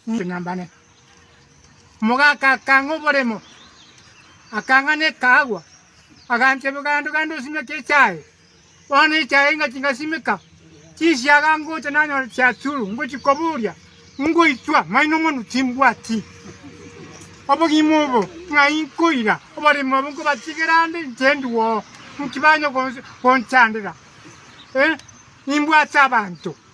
Ng'ambane. Omogaka akang'a oboremo, akang'a ne ekaagwa, agancha ebigaando gande osimeke echae. Bono echae ingachia ngasimeka, chisiaga ngocha nanyora chiachuru, ngochia koburia, ngoitwa maino mono timbwati obogima obo ng'ai nkoira oboremo obo nkobatigera ande inche nduo, nki banya gonsi- gonchandera? Eh, nimbwate abanto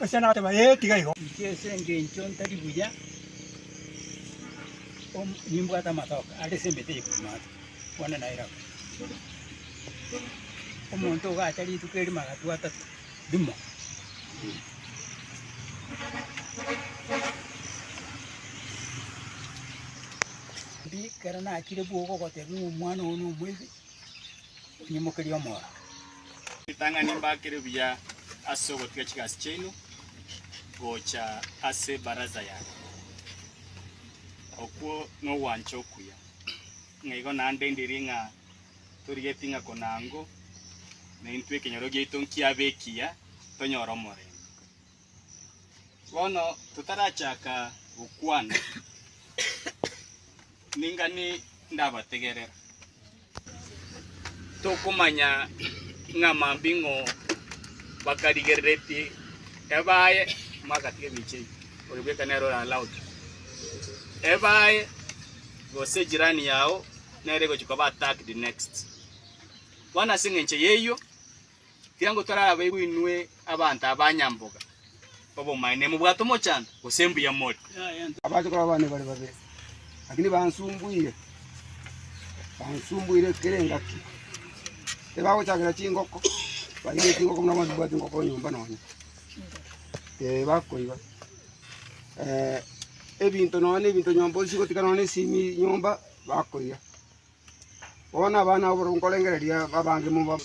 Oisiana agateba, Ee, tiga igo. Inche ase engencho ntari buya om, nimbwate amatoke are ase emete eye kobua maate, bono nairabu. Omonto ogacha rituko erimo agatwa atato, rimo. Mbi, ekero nachire bwogo ogoteba ng'a omwana ogo nomoibi, Nyimokerie omoro. Ritang'ani mbakere buya ase ogotiga chigasi chiaino gocha ase ebaraza yane. Okwo nogwancha okuya. Ng'a igo naende ndiri ng'a torigeti ng'a konango naintwe ekenyoro giaito nkiabe ekiya, tonyore omorembe. Bono totarachaka gokwana, ning'ani ndabategerera. Tokomanya ng'a mambing'o bakarigereretie ebaye magati emiche eye, oyo bweka nere oralaoche ebaye, gose ejirani yao nere egochia koba attacked next. Bono as'engencho y'eyio. Ekiagera torabeirwe inwe abanto abanyamboga obomaene, nimobwate omochando, gose mbuya more. Abache korwa abana bare babere, lakini bansumbuire, bansumbuire kera engaki. Tibagochakera chingoko, baige chingoko buna abanto babwate engoko nyomba nonya. Ee, bakoiba. Eh, ebinto nonya na ebinto nyomba osigotika nonya na esimi nyomba, bakoiya. Bono abana abwo nkorengereria babange mobabe.